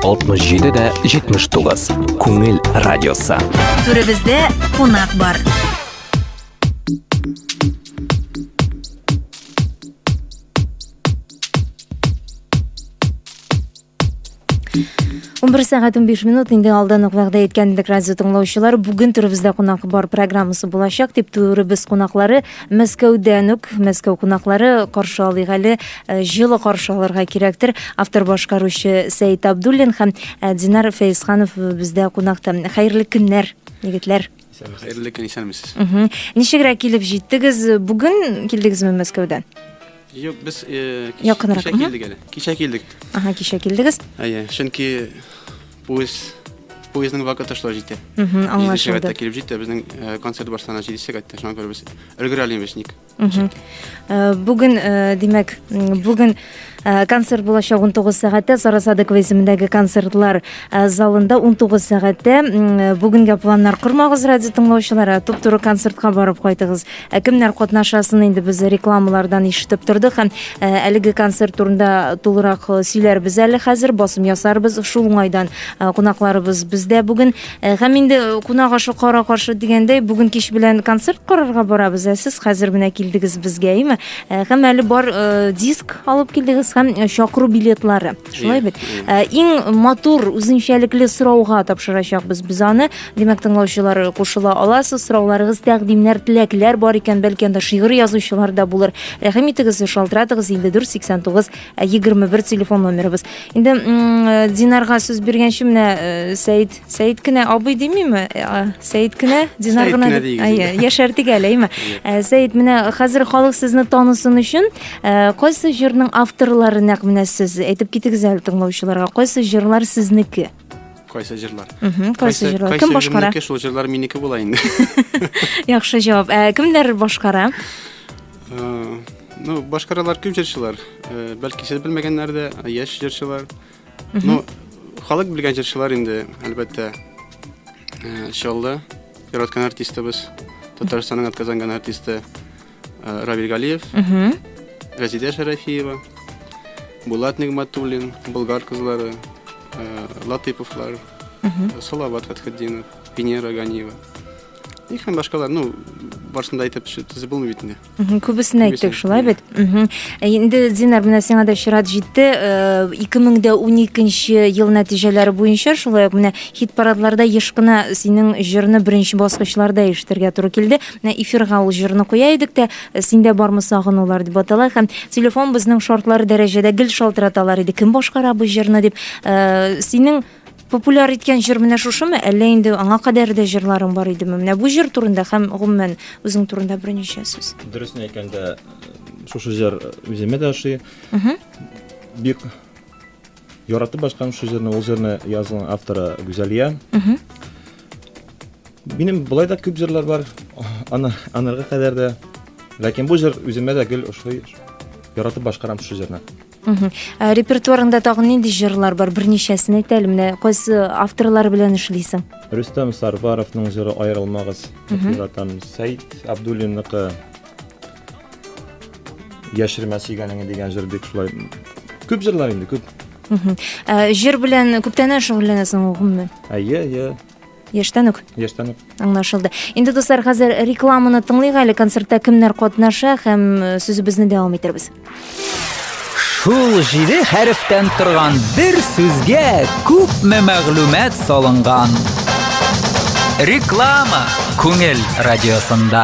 67 дә 79. Күңел радиосы. Түребездә кунак бар. Он бір сағат 15 минут инде алдан ук вәгъдә иткәнбек радио тыңлаучылар бүген түребездә кунак бар программасы булачак дип түребез кунаклары Мәскәүдән үк, Мәскәү кунаклары каршы алыйк әле, э, җылы каршы алырга кирәктер. Автор башкаручы Сәйт Абдуллин һәм э, Динар Фәйсханов бездә кунакта. Хәерле көннәр, егетләр. Хәерле көн, исәнмесез. Ничегрәк килеп җиттегез? Бүген килдегезме Мәскәүдән? Юк, без кичә килдек әле. Кичә килдек. Ага, кичә килдегез. Әйе, чөнки поезд поездның вакыты шулай җитә. Аңлашылды. Сәгатьтә килеп җитте, безнең э, концерт башлана 7 сәгатьтә, шуңа күрә без өлгерә алмыйбыз ник. Э, бүген, э, димәк, бүген концерт булачак 19 сәгатьтә Сарасадык исемендәге концертлар залында 19 сәгатьтә. Бүгенгә планнар кормагыз радио тыңлаучылар, туп-туры концертка барып кайтыгыз. Ә кемнәр катнашасын инде без рекламалардан ишетеп тордык һәм э, әлеге концерт турында тулырак э, сөйләрбез әле хәзер, басым ясарбыз. Шул уңайдан э, кунакларыбыз бездә бүген. Һәм инде кунак ашы кара каршы дигәндәй, бүген кич белән концерт карарга барабыз. Ә сез хәзер менә килдегез безгә, әйме? Һәм әле бар диск алып килдегез һәм чакыру билетлары. Шулай бит. Э, иң матур үзенчәлекле сорауга тапшырачакбыз без аны. Димәк, тыңлаучылар кушыла аласыз. Сорауларыгыз, тәкъдимнәр, теләкләр бар икән, бәлки анда шигырь язучылар да булыр. Рәхим итегез, шалтыратыгыз 5489 21 э, телефон номерыбыз. Инде э, Динарга сүз биргәнче менә Сәид Сәет кенә абый димиме? Сәет кенә, Динар гына. Сәет кенә дигез. Яшәртик әле, әйме? Сәет, менә хәзер халык сезне танысын өчен, кайсы җырның авторлары нәкъ менә сез? Әйтеп китегез әле тыңлаучыларга, кайсы җырлар сезнеке? Кайсы җырлар? Кайсы җырлар? Кем башкара? Кайсы җырлар? Шул җырлар минеке була инде. Яхшы җавап. Ә кемнәр башкара? Ну, башкаралар күп җырчылар. Бәлки сез белмәгәннәр дә, яшь җырчылар. Ну, халык белгән җырчылар инде, әлбәттә, э, Чаллы, яраткан артистыбыз, Татарстанның атказанган артисты э, Равиль Галиев, Мгм. Газидә Шәрәфиева, Булат Нигматуллин, Болгар кызлары, э, Латыповлар, Мгм. э, Салават Фәтхетдинов, Венера Ганиева. И һәм башкалар, ну, барысын да әйтеп ши- тизеп булмый бит инде. Күбесен әйттек шулай бит. Э, инде Динар менә сиңа да чират җитте. 2012 э, ел нәтиҗәләре буенча шулай ук менә хит парадларда еш кына синең җырны беренче баскычларда ишетергә туры килде. Менә эфирга ул җырны куя идек тә, э, синдә бармы сагынулар дип атала һәм телефон безнең шартлар дәрәҗәдә гел шалтыраталар иде. Кем башкара бу җырны дип. Синең Популяр иткән җыр менә шушымы, әллә инде аңа кадәр дә җырларың бар идеме? Менә бу җыр турында һәм гомумән үзең турында берничә сүз. Дөресен әйткәндә, шушы җыр үземә дә ошый. Бик яратып башкам шушы җырны, ул җырны язган авторы Гүзәлия. Минем болай да күп җырлар бар, аны анарга кадәр дә. Ләкин бу җыр үземә дә гел ошый. Яратып башкарам шушы җырны. Ә репертуарыңда тагын нинди җырлар бар? Берничәсен әйт әле, менә кайсы авторлар белән эшлисең? Рөстәм Сарбаровның җыры Аерылмагыз дип яратам. Сәйд Абдуллинныкы Яшермә сөйгәнеңне дигән җыр бик шулай. Күп җырлар инде, күп. Ә җыр белән күптәннән шөгыльләнәсең гомумән? Әйе, әйе. Яшьтән үк. Яшьтән үк. Аңлашылды. Инде дуслар, хәзер рекламаны тыңлыйк әле, концертта кемнәр катнаша һәм э, сүзебезне дәвам итербез. Шул җиде хәрефтән торган бер сүзгә күпме мәгълүмат салынган. Реклама Күңел радиосында.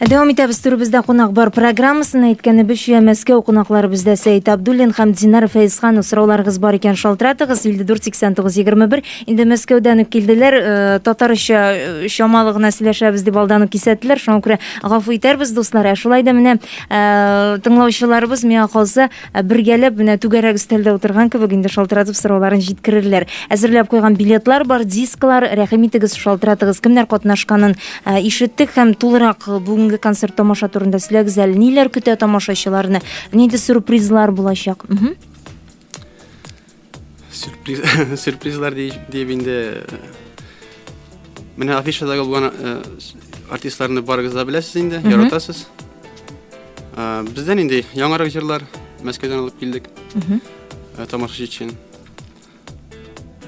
Дәвам итәбез турыбызда кунак бар программасын әйткәнебезчә Мәскәү кунаклары бездә Сәйт Абдуллин һәм Динар Фәйзханов сорауларыгыз бар икән шалтыратыгыз 548921 инде Мәскәүдән үк килделәр э, татарча э, чамалы гына сөйләшәбез дип алдан ук кисәттеләр шуңа күрә гафу итәрбез дуслар ә шулай да менә э, тыңлаучыларыбыз миңа калса Ә бергәләп менә түгәрәк өстәлдә утырган кебек инде шалтыратып сорауларын җиткерерләр. Әзерләп куйган билетлар бар, дисклар, рәхим итегез, шалтыратыгыз, кемнәр катнашканын ә, ишеттек һәм тулырак бүгенге концерт тамаша турында сөйләгез әле, ниләр көтә тамашачыларны, нинди сюрпризлар булачак? Мһм. сюрпризлар диеп инде менә афишадагы булган э, артистларны барыгыз да беләсез инде яратасыз э, бездән инде яңарак җырлар мәскәүдән алып килдек э, тамашачы өчен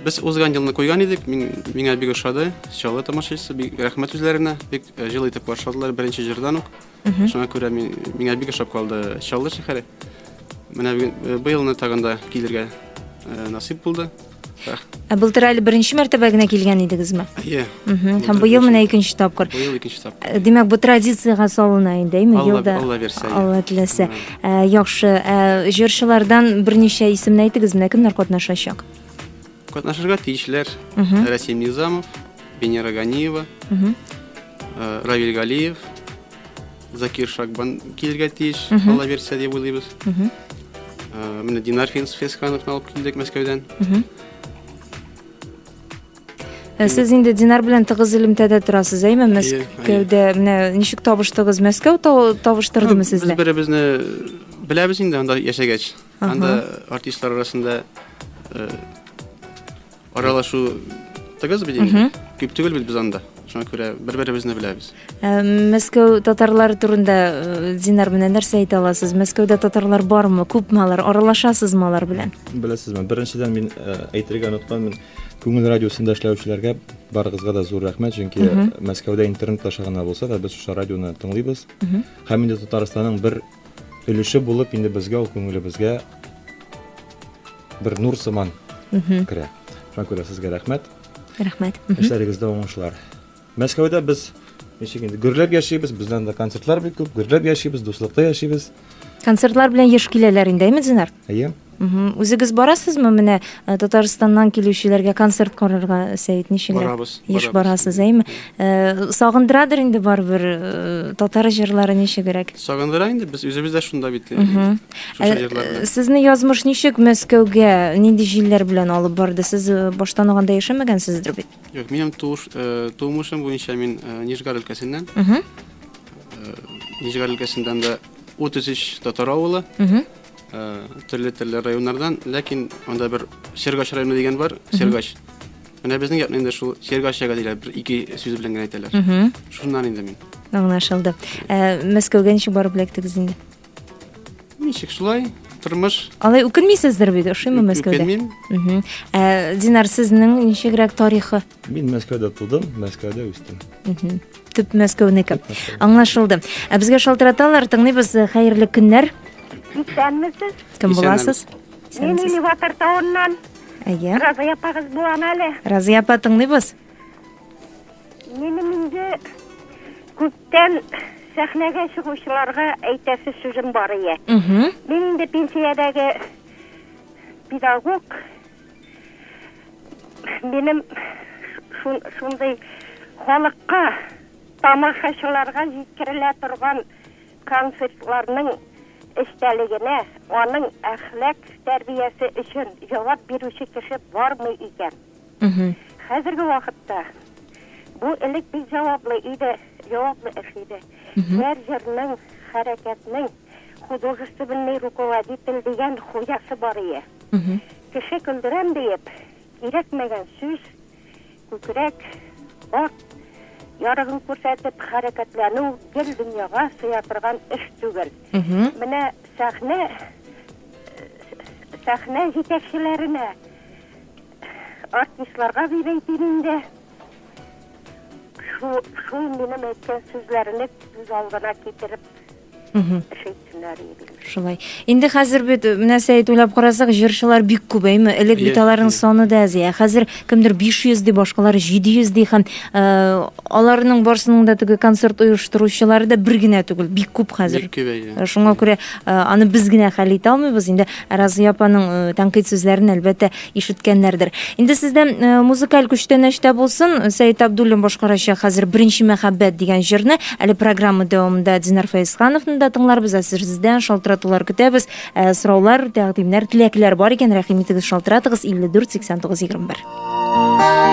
без узган елны куйган идек мин миңа бик ошады чаллы тамашачысы бик рәхмәт үзләренә бик җылы итеп каршыладылар беренче җырдан ук Мхм. Шуңа күрә мин, миңа бик ошап калды Чаллы шәһәре. Менә бүген, э, быелны тагын да килергә э, насыйп булды. Рах- Ә былтыр әле беренче мәртәбә генә килгән идегезме? Әйе, Мгм. Һәм Былтыр быел менә беренче. икенче тапкыр. быел икенче тапкыр. Э, Димәк, бу традициягә салына инде, әйме? Алла, Елда Алла бирсә. әйе. Алла теләсә. Менә. Ә, яхшы. Ә, җырчылардан берничә исемне әйтегез, менә кемнәр катнашачак? Катнашырга тиешләр Рәсим Низамов, Венера Ганиева, э, Равиль Галиев, Закир Шагбан килергә тиеш, ала бирсә дип уйлыйбыз. Э, Менә Динар Финс Фескановны алып килдек Мәскәүдән. Ә Сез инде Динар белән тыгыз элемтәдә торасыз, әйме? Мәскәүдә менә ничек табыштыгыз? Мәскәү тау- табыштырдымы Без сезне? беребезне беләбез инде анда яшәгәч. Анда артистлар арасында э, аралашу тыгыз бит инде. Күп түгел бит без анда. Шуңа күрә бер-беребезне беләбез. Ә, Мәскәү татарлары турында э, Динар менән нәрсә әйтә аласыз? Мәскәүдә татарлар бармы? Күпме алар? Аралашасызмы алар белән? Беләсезме, беренчедән мин э, әйтергә онытканмын, күңел радиосында эшләүчеләргә барыгызга да зур рәхмәт, чөнки Мәскәүдә интернет аша гына булса да без шушы радионы тыңлыйбыз. Һәм инде Татарстанның бер өлеше булып инде безгә ул күңелебезгә бер нур сыман керә шуңа күрә сезгә рәхмәт рәхмәт эшләрегездә уңышлар мәскәүдә без ничек инде гөрләп яшибез бездән дә концертлар бик күп гөрләп яшибез дуслыкта яшибез концертлар белән еш киләләр инде әйме динар Әйе. Үзегез барасызмы менә э, Татарстаннан килүчеләргә концерт карарга Сәет ничегрәк? Барабыз. Еш барасыз, әйме? Э, сагындырадыр инде барыбер э, татар җырлары ничегрәк? Сагындыра инде без үзебез дә шунда бит. Сезне язмыш ничек Мәскәүгә нинди җилләр белән алып барды? Сез баштан алганда яшәмәгәнсездер бит? Юк, минем тумышым буенча мин Нижгар өлкәсеннән. Нижгар өлкәсеннән дә 33 татар авылы. Төрле төрле районнардан, ләкин анда бер Сергач районы дигән бар, Сергач. Менә безнең якны инде шул Сергач яга диләр, бер ике сүз белән генә әйтәләр. Шуннан инде мин. Аңлашылды. Ә, Мәскәүгә ничек барып эләктегез инде? Ничек шулай? Тормыш. Алай үкенмисездер бит, ошыймы Мәскәүдә? Үкенмим. Ә, Динар, сезнең ничегрәк тарихы? Мин Мәскәүдә тудым, Мәскәүдә үстем. Төп Мәскәүнеке. Аңлашылды. Ә безгә шалтыраталар, тыңлыйбыз. Хәерле көннәр. Исәнмесез? Кем буласыз? Мин Элеватор тавыннан. Әйе. Разый апагыз булам әле. Разый апа, тыңлыйбыз. Минем инде күптән сәхнәгә чыгучыларга әйтәсе сүзем бар ие. Мин инде пенсиядәге педагог Минем шундый халыкка, тамашачыларга җиткерелә торган концертларның эчтәлегенә, аның әхлак тәрбиясе өчен җавап бирүче кеше бармы икән? Хәзерге вакытта бу элек бик җаваплы иде, җаваплы эш иде. Һәр җырның, хәрәкәтнең художественный руководитель дигән хуҗасы бар ие. Кеше көлдерәм диеп, кирәкмәгән сүз, күкрәк, арт ярыгын күрсәтеп хәрәкәтләнү гел дөньяга сыя торган эш түгел. Менә сәхнә сәхнә җитәкчеләренә, артистларга дип әйтим инде, шул минем әйткән сүзләрне күз алдына китереп Шәйтүләр егет. Шулай. Инде хәзер бит э, менә Сәет уйлап карасак, җырчылар бик күбәйме? Элек бит аларның саны да аз. Ә хәзер кемдер 500 ди, башкалар 700 ди һәм э, аларның барсының да теге концерт оештыручылары да бер генә түгел, бик күп хәзер. Бик күбәйде. Э, шуңа күрә аны без генә хәл итә алмыйбыз. Инде Разия апаның тәнкыйть сүзләрен әлбәттә Ишеткәннәрдер. Инде сездә музыкаль күчтәнәч тә булсын, Сәет Абдуллин башкарачак хәзер Беренче мәхәббәт дигән җырны. Әле программа дәвамында Динар Фәезхановны да тыңларбыз, ә сездән шалтыратулар көтәбез. Ә, сораулар, тәкъдимнәр, теләкләр бар икән, рәхим итегез, шалтыратыгыз 54 89 21.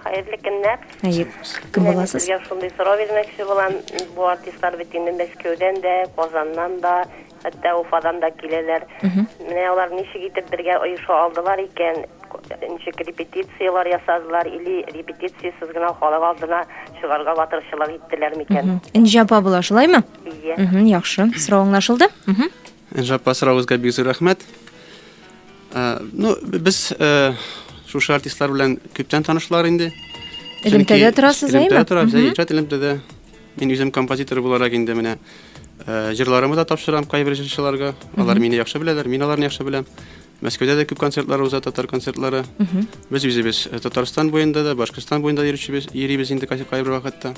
Хәерле көннәр! Гаеп. Кем Менә мин буласыз? сезгә шундый сорау бирмәкче булам, бу артистлар бит инде Мәскәүдән дә, Казаннан да, хәтта Уфадан да киләләр. Менә алар ничек итеп бергә оеша алдылар икән? Ничек репетицияләр ясадылар или репетициясез генә халык алдына чыгарга батырчылык иттеләр микән? Энҗе апа була, шулаймы? Ие. Мхм, яхшы. Сорау аңлашылды. Мхм. Энжаппа сорагызга бик зур рәхмәт. Ну, без шушы артистлар белән күптән танышлар инде. Элемтәдә торасыз, әйме? Элемтәдә торабыз, әйе, иҗат элемтәдә. Мин үзем композитор буларак инде менә Э, җырларымы да тапшырам кайбер җырчыларга. Алар мине яхшы беләләр, мин аларны яхшы беләм. Мәскәүдә дә күп концертлар уза, татар концертлары. Без үзебез э, Татарстан буенда да, Башкортстан буенда йөрүчебез, йөрибез инде кайбер вакытта.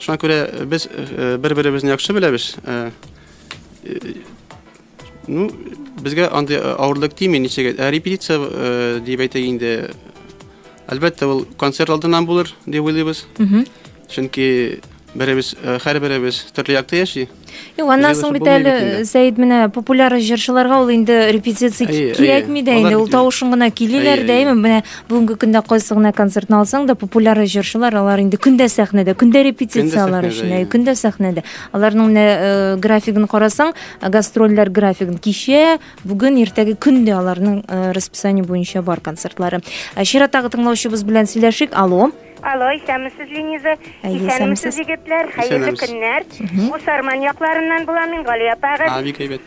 Шуңа күрә э, без бер-беребезне яхшы беләбез. Ну, безгә андый э, авырлык тими, ничек ә репетиция э, дип әйтә инде. Әлбәттә, ул концерт алдыннан булыр дип уйлыйбыз. Чөнки беребез э, һәр беребез төрле якта яши. Юк, аннан соң бит әле Сәид менә популяр җырчыларга ул инде репетиция кирәкми дә инде, ул тавышын гына килиләр дәйме. Менә бүгенге көндә кайсы гына концертны алсаң да популяр җырчылар алар инде көндә сәхнәдә, көндә репетицияләр өчен, көндә сәхнәдә. Аларның менә э, графигын карасаң, гастрольләр графигын кичә, бүген, иртәге көн дә аларның э, расписание буенча бар концертлары. Ә Чираттагы тыңлаучыбыз белән сөйләшик. Алло. Алло, исәнмесез, Лениза. Әйе, Исәнмесез, исәнмесез. егетләр. Хәерле Исәнмесез. көннәр. Бу Сарман якларыннан булам мин, Гали апагыз. А, бик әйбәт.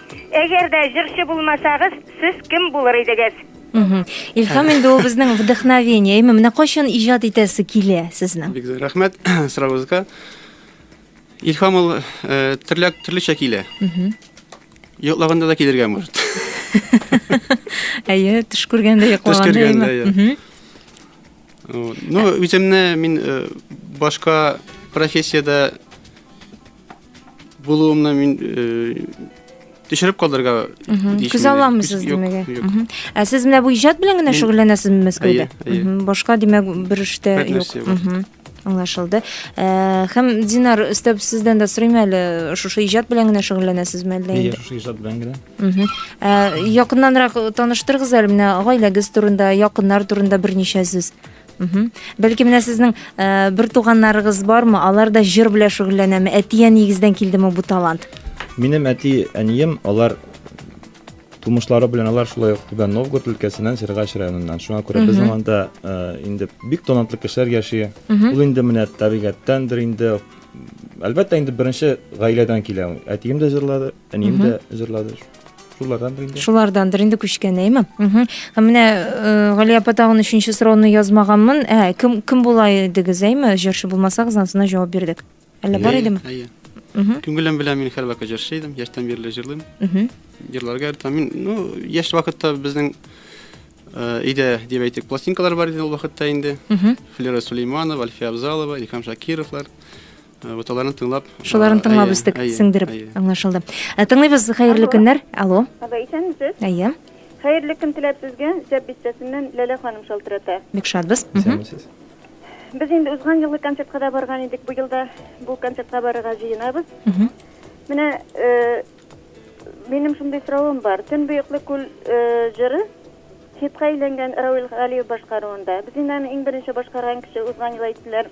Әгәр дә җырчы булмасагыз, сез кем булыр идегез? Мгм. Илһам инде ул безнең вдохновение. Әйме, менә кайчан иҗат итәсе килә сезнең? Бик зур рәхмәт соравыгызга. Илһам ул э, төрле төрлечә килә. Йоклаганда да килергә может. Әйе, төш күргәндә Төш йоклаганда күргәндә, әйме. иә. Мгм. Вот. Ну, үземне мин э, башка профессиядә Булуымны мин төшереп калдырырга күз аламысыз димәк ә сез менә бу иҗат белән генә шөгыльләнәсезме мәскәүдә башка димәк бер эштә юк аңлашылды э, һәм динар өстәп сездән дә сорыйм әле шушы иҗат белән генә шөгыльләнәсезме әллә инде шушы иҗат белән генә э, якыннанрак таныштырыгыз әле менә гаиләгез турында якыннар турында берничә сүз Бәлки менә сезнең э, бер туганнарыгыз бармы? Алар да җыр белән шөгыльләнәме? Әтия нигездән килдеме бу талант? Минем әти, әнием, алар тумышлары белән алар шулай ук Түбән Новгород өлкәсеннән Сергач районыннан. Шуңа күрә безнең анда э, инде бик талантлы кешеләр яши. Ул инде менә табигатьтәндер инде. Әлбәттә инде беренче гаиләдән килә. Әтием дә җырлады, Әнием дә җырлады. Шулардандыр инде. Шулардандыр инде күчкән, әйме? Һәм менә э, Гали апа тагын өченче сорауны язмаганмын. Ә, кем кем була идегез, әйме? Җырчы булмасагыз, ансына җавап бирдек. Әллә бар идеме? Әйе. Күңелем белән мин һәрвакыт җырчы идем, яшьтән бирле җырлыйм. Җырларга яратам. Мин, ну, яшь вакытта безнең э, өйдә, дип әйтик, пластинкалар бар иде ул вакытта инде. Флера Сулейманова, Альфия Абзалова, Илһам Шакировлар. Вот аларны тыңлап. Шуларны тыңлап үстек, сеңдереп. Аңлашылды. Ә тыңлыйбыз, хәерле көннәр. Алло. Алло, исәнмесез? Әйе. Хәерле көн теләп сезгә, Зәп бистәсеннән Ләлә ханым шалтырата. Бик шатбыз. Исәнмесез. Без инде узган елгы концертка да барган идек, бу елда бу концертка барырга җыенабыз. Менә э, минем шундый соравым бар. Төн буеклы күл э, җыры хитка әйләнгән Рауил Галиев башкаруында. Без инде аны иң беренче башкарган кеше узган ел әйттеләр.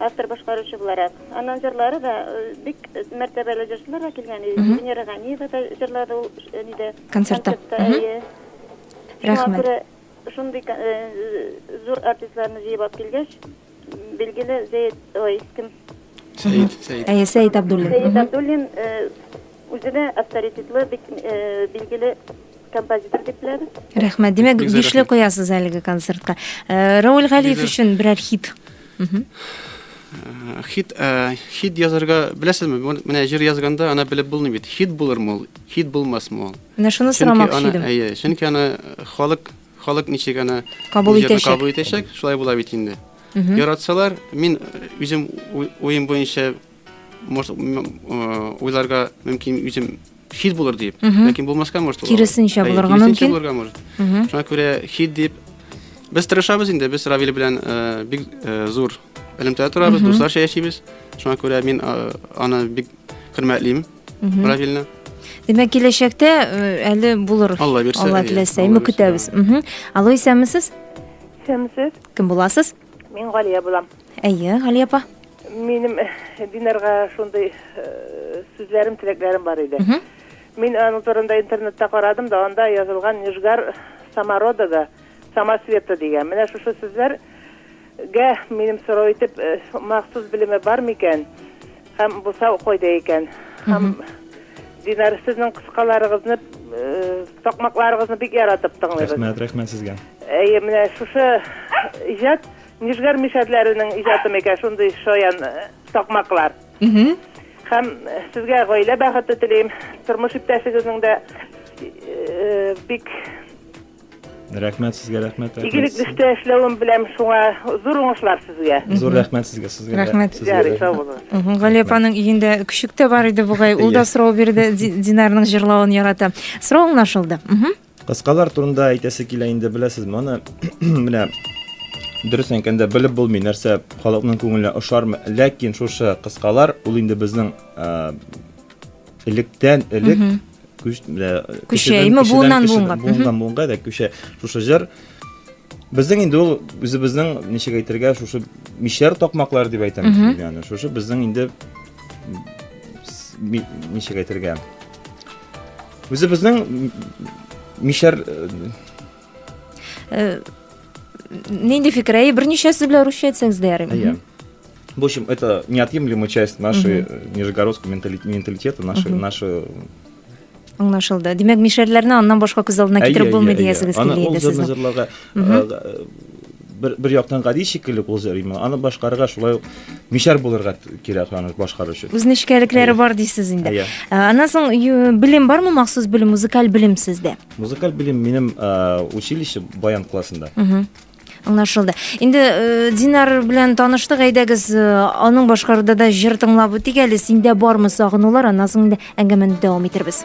автор-башкаручы буларак. Аннан җырлары да бик мәртәбәле җырчылар да килгән. Венера Ганиева да җырлады ул нидә? Концертта. Әйе. Рәхмәт. Шундый зур артистларны җыеп алып килгәч, билгеле Зәет, ой, кем? Сәет, Сәет. Әйе, Сәет Абдуллин. Сәет Абдуллин Үзенә авторитетлы, бик билгеле композитор дип беләбез. Рәхмәт. Димәк, бишле куясыз әлеге концертка. Рауль Галиев өчен берәр хит. Хит, хит язарга беләсезме? Менә җыр язганда ана белеп булмый бит. Хит булырмы ул? Хит булмасмы ул? Менә шуны сорамакчы идем. Әйе, чөнки аны халык, халык ничек аны кабул итәчәк? Кабул итәчәк, шулай була бит инде. Яратсалар, мин үзем уем буенча может уйларга мөмкин үзем хит булыр дип ләкин булмаска может киресенчә булырга мөмкин булырга может шуңа күрә хит дип без тырышабыз инде без равил белән бик зур элемтәдә торабыз дусларча яшибез шуңа күрә мин аны бик хөрмәтлим равилне Димәк, киләчәктә әле булыр. Алла бирсә. Алла теләсә, ме көтәбез. Алло, исәнмесез? Исәнмесез. Кем буласыз? Мин Галия булам. Әйе, Галия апа. Минем Динарга шундый сүзләрем, теләкләрем бар иде. Мин аның турында интернетта карадым да, анда язылган Нижгар самородога самосвета дигән. Менә шушы сүзләргә минем сорау итеп махсус белеме бар микән? Һәм бусау кайда икән? Һәм Динар, сезнең кыскаларыгызны, такмакларыгызны бик яратып тыңлыйбыз. Рәхмәт, рәхмәт сезгә. Әйе, менә шушы иҗат Нижгар мишәрләренең иҗаты микән шундый шаян такмаклар? Һәм сезгә гаилә бәхете телим, тормыш иптәшегезнең дә бик Рәхмәт сезгә, рәхмәт. Игелек дистә эшләвен беләм шуңа. Зур уңышлар сезгә. Зур рәхмәт сезгә, сезгә. Рәхмәт. Ярый, сау булыгыз. Гали апаның өендә көчек тә бар иде бугай. Ул да сорау бирде, Динарның җырлавын ярата. Сорау аңлашылды. Кыскалар турында әйтәсе килә инде, беләсез, моны менә дөрес әйткәндә белеп булмый нәрсә халыкның күңеленә ошармы ләкин шушы кыскалар ул инде безнең электән элек көчә именно буыннан буынга буыннан буынга да көчә шушы җыр безнең инде ул үзебезнең ничек әйтергә шушы мишәр такмаклар дип әйтәм яны шушы безнең инде ничек әйтергә үзебезнең мишәр нинди фикер әйе берничәсе белән русча әйтсәгез дә ярый В общем, это неотъемлемая часть нашей угу. нижегородского менталитета, нашей, угу. нашей аңлашылды димәк мишәрләрне аннан башка күз алдына китереп булмый диясегез килә инде сезнең җырларга бер, бер яктан гади шикелле кул җырлыймын аны башкарырга шулай ук мишәр булырга кирәк аны башкару өчен үз нечкәлекләре бар дисез инде ә, аннан соң белем бармы махсус белем музыкаль белем сездә музыкаль белем минем училище баян классында Аңлашылды. Инде э, Динар белән таныштык, әйдәгез, э, аның башкаруда да җыр тыңлап үтик әле. Синдә бармы сагынулар? Аннан соң инде әңгәмәне дәвам итәрбез.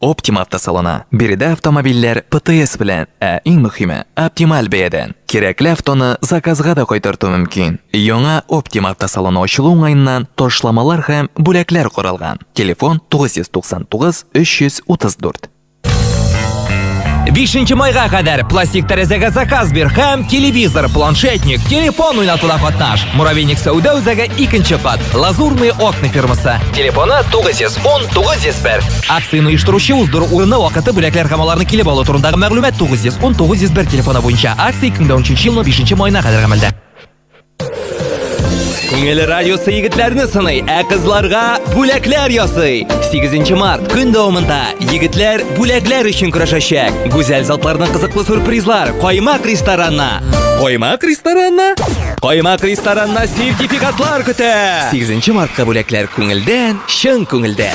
Optima автосалоны. Биредә автомобильләр ПТС белән, ә иң мөхиме, оптималь бәядән. Кирәкле автоны заказга да кайтарту мөмкин. Яңа Optima автосалоны ачылу уңаеннан ташламалар һәм бүләкләр каралган. Телефон 999 334. 5 майга кадәр пластик тәрәзәгә заказ бир һәм телевизор, планшетник, телефон уйнатуда катнаш. Муравейник сәүдә үзәге 2 кат. Лазурные окна фирмасы. Телефоны 910 901. Акцияне оештыручы уздыру урыны, вакыты, бүләкләр һәм аларны килеп алу турындагы мәгълүмат 910 901 телефоны буенча. Акция 2013 елның 5 маена кадәр гамәлдә. Күңел радиосы егетләрне сыный, ә кызларга бүләкләр ясый. 8 март көн дәвамында егетләр бүләкләр өчен көрәшәчәк. Гүзәл затларның кызыклы сюрпризлар Каймак ресторанна. Каймак ресторанна? Каймак ресторанна сертификатлар көтә. 8 мартка бүләкләр күңелдән, чын күңелдә.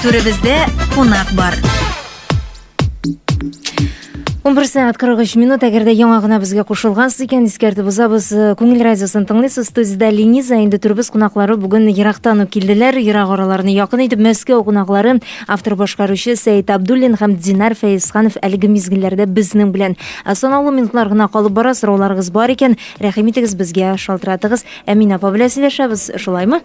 Түребездә кунак бар. 11 сәгать 43 минут, әгәр дә яңа гына безгә кушылгансыз икән, искәртеп узабыз. Э, Күңел радиосын тыңлыйсыз, студиядә Лениза, инде төрбез кунаклары бүген ерактан ук килделәр, ерак араларны якын итеп Мәскәү кунаклары, автор башкаручы Сәет Абдуллин һәм Динар Фәйсханов әлеге мизгелләрдә безнең белән. Ә санаулы минутлар гына калып бара, сорауларыгыз бар икән, рәхим итегез безгә, шалтыратыгыз. Әмин апа белән сөйләшәбез, шулаймы?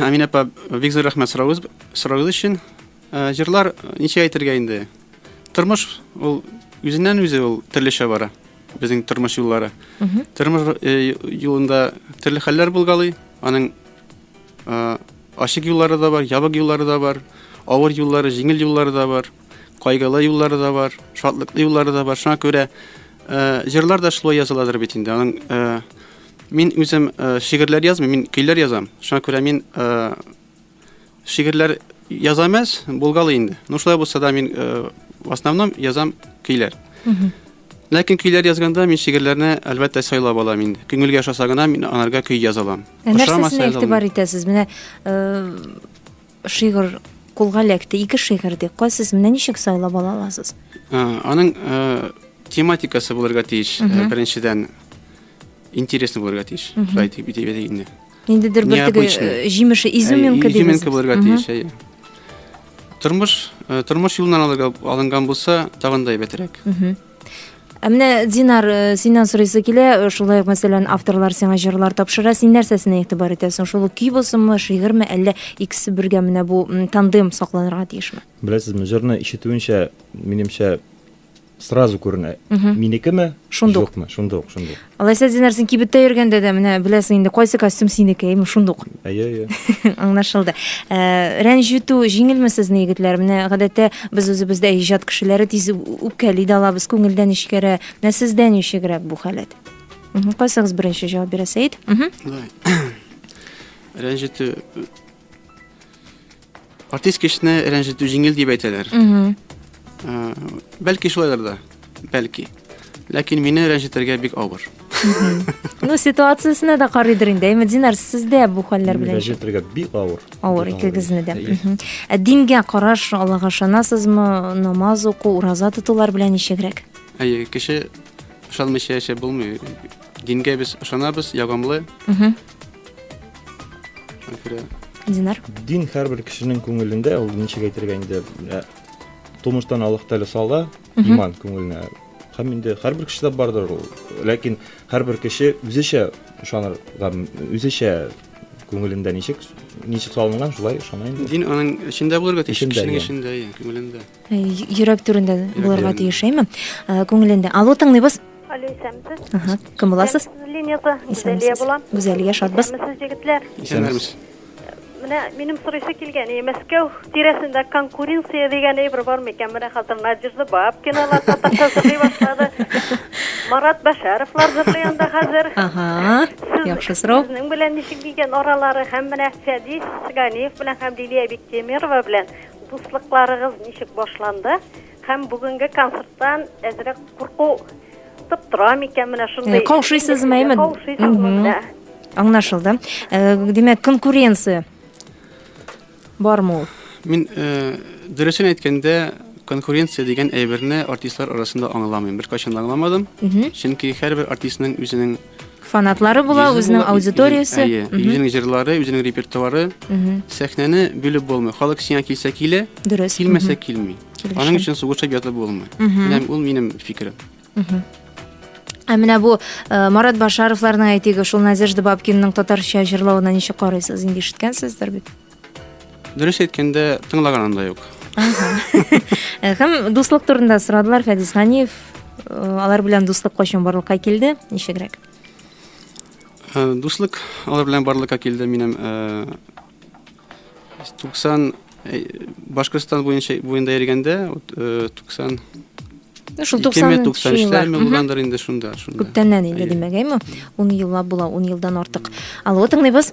Амин апа, бик зур рәхмәт сорауыгыз сорауыгыз өчен. Җырлар ничә әйтергә инде? Тормыш ул үзеннән үзе ул төрлечә бара. Безнең тормыш юллары. Тормыш юлында төрле хәлләр булгалый. Аның ачык юллары да бар, ябык юллары да бар, авыр юллары, җиңел юллары да бар. кайгылы юллары да бар, шатлыклы юллары да бар. Шуңа күрә э, җырлар да шулай языладыр бит инде. Аның э, мин үзем э, шигырьләр язмыйм, мин көйләр язам. Шуңа күрә мин э, шигырьләр язам әз, булгалы инде. Ну шулай булса да мин э, в основном язам көйләр. Ләкин көйләр язганда мин шигырьләрне әлбәттә сайлап алам инде. Күңелгә ошаса гына мин анарга көй язалам. Ә нәрсәсенә игътибар итәсез? Менә э, Шигырь кулга эләкте, ике шигырь ди. Кайсысын менә ничек сайлап ала аласыз? Аның тематикасы булырга тиеш. Беренчедән, интересный булырга тиеш. Шулай дип әйтик инде. Ниндидер бер теге җимеше, изюминка дигән. Изюминка булырга тиеш, әйе. Тормыш, тормыш юлыннан алынган булса, тагын да әйбәтрәк. Ә менә Динар, э, синнән сорыйсы килә, э, шулай ук мәсәлән, авторлар сиңа җырлар тапшыра, син нәрсәсенә игътибар итәсең? Шул ук көй булсынмы, шигырьме, әллә икесе бергә менә бу тандем сакланырга тиешме? Беләсезме, җырны ишетүенчә, минемчә, сразу күренә. Минекеме? Шундук. Юкмы? Шундук, шундук. Алайса, Динар, син кибеттә йөргәндә дә менә беләсең инде, кайсы костюм синеке, әйме шундук. Әйе, әйе. Аңлашылды. Ә, Рәнҗетү җиңелме сезне, егетләр? Менә гадәттә без үзебездә иҗат кешеләре тиз үпкәли дә алабыз, күңелдән ишкәрә. Менә сездә ничегрәк бу халәт? Мгм, Кайсыгыз беренче җавап бирә, Сәет? Мгм. Рәнҗетү Артист кешене рәнҗетү җиңел дип әйтәләр. Э, бәлки шулайдыр да, бәлки. Ләкин мине рәнҗетергә бик авыр. Ну, ситуациясенә дә карыйдыр инде. Әйме, Динар, сездә бу хәлләр белән? Рәҗәтергә бик авыр. Авыр икегезне дә. Ә дингә караш, Аллага ышанасызмы? Намаз уку, ураза тотулар белән ничегрәк? Әйе, кеше ышанмыйча яшәп булмый. Дингә без ышанабыз, ягымлы. Динар. Дин һәрбер кешенең күңелендә, ул ничек әйтергә инде, тумыштан Аллаһ Тәгалә сала иман күңеленә. Һәм инде һәрбер кешедә бардыр ул. Ләкин һәрбер кеше үзечә ышаныр, үзечә күңелендә ничек ничек салынган, шулай ышана инде. Дин аның эчендә булырга тиеш, кешенең эчендә, күңелендә. Йөрәк түрендә булырга тиеш, әйме? Күңелендә. Алло, тыңлыйбыз. Алло, исәнмесез. Ага, кем буласыз? Линиясе Гүзәлия була. Гүзәлия, шатбыз. Исәнмесез, җегетләр. Исәнмесез. Менә минем сорыйсы килгән, и Мәскәү тирәсендә конкуренция дигән әйбер бар микән? Менә хәзер Надежда Бабкиналар татарча сөйли башлады. Марат Бәшәровлар җырлый анда хәзер. Ага. Яхшы сорау. Сезнең белән ничек дигән аралары һәм менә Фәдис Ганиев белән һәм Лилия Биктемирова белән Дуслыкларыгыз ничек башланды һәм бүгенге концерттан әзрәк курку тып тора микән менә шундый? Э, каушыйсызмы, әйме? Каушыйсызмы менә? Аңлашылды. Э, димәк, конкуренция бармы ул? Мин э, дөресен әйткәндә, конкуренция дигән әйберне артистлар арасында аңламыйм. Беркайчан да аңламадым. Чөнки һәрбер артистның үзенең фанатлары була, үзенең аудиториясе. Әйе, үзенең җырлары, үзенең репертуары. Сәхнәне бүлеп булмый. Халык сиңа килсә килә, дөрес. Килмәсә килми. Аның өчен сугышып ятып булмый. Менә ул минем фикерем. Ә менә бу э, Марат Башаровларның әйтеге, шул Надежда Бабкинның татарча җырлавына ничек карыйсыз? Инде ишеткәнсездер бит. Дөрес әйткәндә, тыңлаганым да юк. Һәм дуслык турында сорадылар Фәдис Ганиев. Э, алар белән дуслык кайчан барлыкка килде? Ничегрәк? Э, дуслык алар белән барлыкка килде минем 90 э, Башкортстан буенча буенда йөргәндә 90 Ну, шул 93 еллар. Булгандыр инде шунда, шунда. Күптәннән инде димәк, әйме? 10 еллап була, 10 елдан артык. Алло, тыңлыйбыз.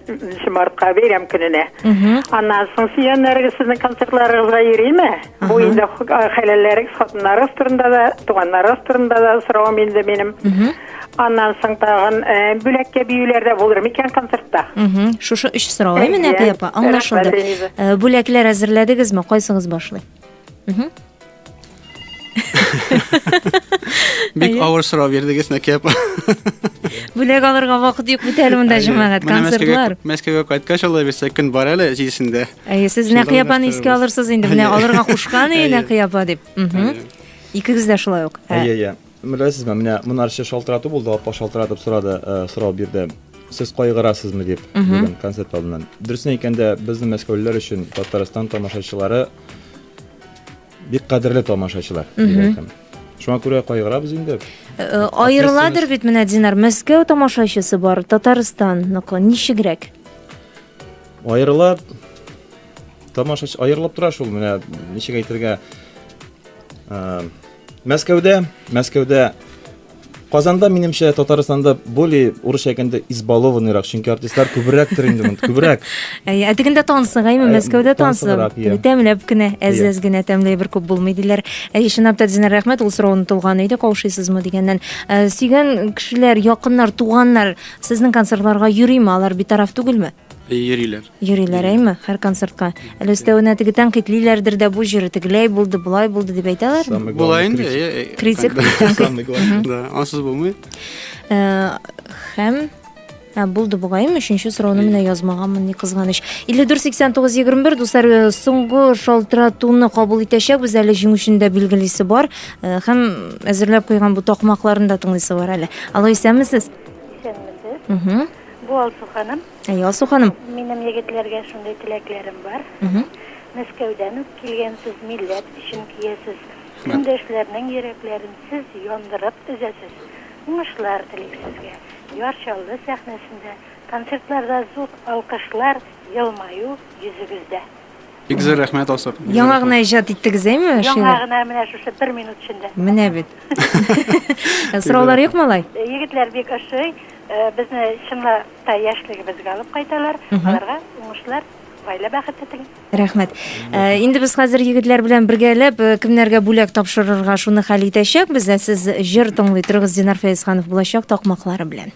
Нче мартка бәйрәм көненә. Аннан соң сөйгәннәрегез сезнең концертларыгызга йөриме? Бу инде хәләлләрегез, хатыннарыгыз турында да, туганнарыгыз турында да соравым инде минем. Аннан соң тагын э, бүләккә биюләр дә булыр микән концертта? Шушы өч сорау, э, менә апа, аңлашылды. Э, бүләкләр әзерләдегезме? Кайсыгыз башлый? Бик Әйе. авыр сорау бирдегез, Нәкия апа. Бүләк алырга вакыт юк бит әле монда җәмәгать, концертлар. Мәскәүгә кайткач алай бирсә көн бар әле җидесендә. Әйе, сез Нәкия апаны искә алырсыз инде, менә алырга кушкан иде Нәкия апа дип. Икегез дә шулай ук. Әйе, әйе. Беләсезме, менә монарчы шалтырату булды, апа шалтыратып сорады, э, сорау бирде сез кайгырасызмы дип бүгін концерт алдынан дөресен әйткәндә безнең мәскәүлеләр өчен татарстан тамашачылары Бик кадерле тамашачылар. Шуңа күрә кайгырабыз инде. Э, э, аерыладыр бит менә Динар, Мәскәү тамашачысы бар, Татарстанныкы ничегрәк? Аерыла тамашачы аерылып тора шул менә ничек әйтергә э, Мәскәүдә, Мәскәүдә Казанда, минемчә, Татарстанда более урысча әйткәндә избалованныйрак, чөнки артистлар күбрәктер инде монда, күбрәк. Әйе, ә дигәндә тансыгаймы, Мәскәүдә тансы. Тәмләп кенә, әз-әз генә тәмләй бер күп булмый диләр. Әйе, чынлап та Динар рәхмәт, ул сорау онытылган иде, каушыйсызмы дигәннән. Сөйгән кешеләр, якыннар, туганнар сезнең концертларга йөриме, алар битараф түгелме? Әйе, йөриләр. Йөриләр, әйме, һәр концертка. Әле өстәвенә теге тәнкыйтьлиләрдер дә, бу җыры тегеләй булды, болай булды дип әйтәләрме? Була инде, әйе, әйе. Критик, тәнкыйть. Да, ансыз булмый. Э, һәм Ә, булды бугайым, өченче сорауны менә язмаганмын, ни кызганыч. 54-89-21, дуслар, э, соңгы шалтыратуны кабул итәчәкбез, әле җиңүчене дә билгелисе бар, э, һәм әзерләп куйган бу такмакларны да тыңлыйсы бар әле. Алло, исәнмесез? Исәнмесез. Бу Алсу ханым. Әй, Алсу ханым. Минем егетләргә шундый теләкләрем бар. Мәскәүдән үк килгәнсез, милләт өчен киясез. Көндәшләрнең йөрәкләрен сез яндырып өзәсез. Уңышлар телик сезгә. Яр Чаллы сәхнәсендә, концертларда зур алкышлар, елмаю йөзегездә. Бик зур рәхмәт, Алсып. Яңа гына иҗат иттегез, әйме? Яңа гына менә шушы бер минут эчендә. Менә бит. Сораулар юк малай? Э, егетләр бик ошый. Э, безне чынлап та яшьлегебезгә алып кайталар. Аларга уңышлар, гаилә бәхете телим. Рәхмәт. Э, инде без хәзер егетләр белән бергәләп э, кемнәргә бүләк тапшырырга шуны хәл итәчәкбез. Ә сез җыр тыңлый торыгыз Динар Фәезханов булачак такмаклары белән.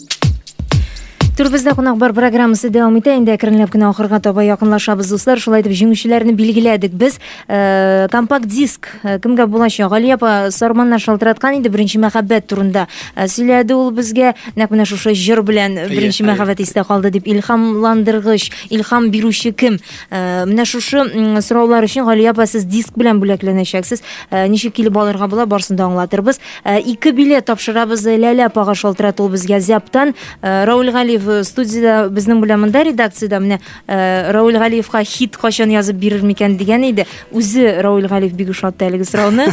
Төрбездә кунак бар программасы дәвам итә. Инде әкренләп кенә ахырга таба якынлашабыз, дуслар. Шулай итеп җиңүчеләрне билгеләдек. Без э, компакт диск э, кемгә булачак? Гали апа Сарманнар шалтыраткан инде беренче мәхәббәт турында э, сөйләде ул безгә. Нәкъ менә шушы җыр белән беренче мәхәббәт истә калды дип илһамландыргыч, илһам бирүче кем? Э, менә шушы м, сораулар өчен Гали апа сез диск белән бүләкләнәчәксез. Э, ничек килеп алырга була, барсын да аңлатырбыз. Ә, ике билет тапшырабыз э, Ләлә апага шалтырат ул безгә Зяптан. Э, Рауль Галиев э, студияда безнең белән монда редакциядә менә Рауль Галиевка хит качан язып бирер микән дигән иде. Үзе Рауль Галиев бик ошатты әлеге сорауны.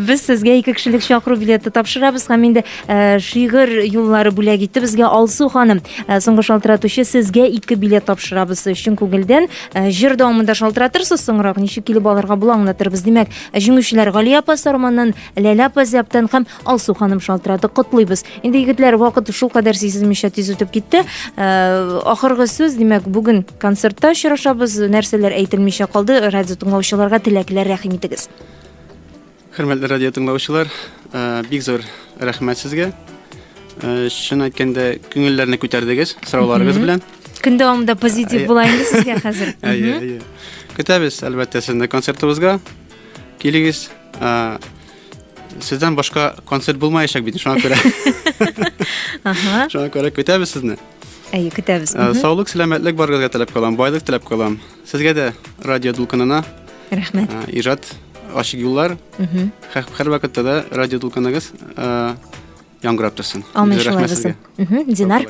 Без сезгә ике кешелек чакыру билеты тапшырабыз һәм инде шигырь юллары бүләк итте безгә Алсу ханым. Соңгы шалтыратучы сезгә ике билет тапшырабыз чын күңелдән. Җыр дәвамында шалтыратырсыз соңрак ничек килеп алырга була аңлатырбыз. Димәк, Ә җиңүчеләр Галия апа Сарманнан, Ләлә апа Зәптән һәм Алсу ханым шалтырады. Котлыйбыз. Инде егетләр вакыт шул кадәр сизелмичә тиз үтеп китте. Э, ахыргы сүз, димәк, бүген концертта очрашабыз. Нәрсәләр әйтелмичә калды? Радио тыңлаучыларга теләкләр рәхим итегез. Хөрмәтле радио тыңлаучылар, э, бик зур рәхмәт сезгә. Э, чын әйткәндә, күңелләрне күтәрдегез сорауларыгыз белән. Көн дәвамында позитив була инде сезгә хәзер. Әйе, әйе. Көтәбез, әлбәттә, сезне концертыбызга. Килегез. Сездән башка концерт булмаячак бит, шуңа күрә. Ага. Шуңа күрә көтәбез сезне. Әйе, көтәбез. Саулык, сәламәтлек барыгызга теләп калам, байлык теләп калам. Сезгә дә радио дулкынына. Рәхмәт. Ижат ачык юллар. Һәр вакытта да радио дулкыныгыз яңгырап торсын. Амин, шулай булсын. Динар.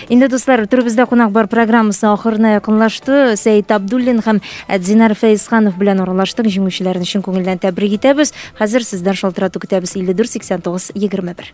Инде дуслар, төребездә кунак бар программасы ахырына якынлашты. Сәйд Абдуллин һәм Динар Фәйсханов белән аралаштык. Җиңүчеләрне чын күңелдән тәбрик итәбез. Хәзер сездән шалтырату көтәбез 54 89 21.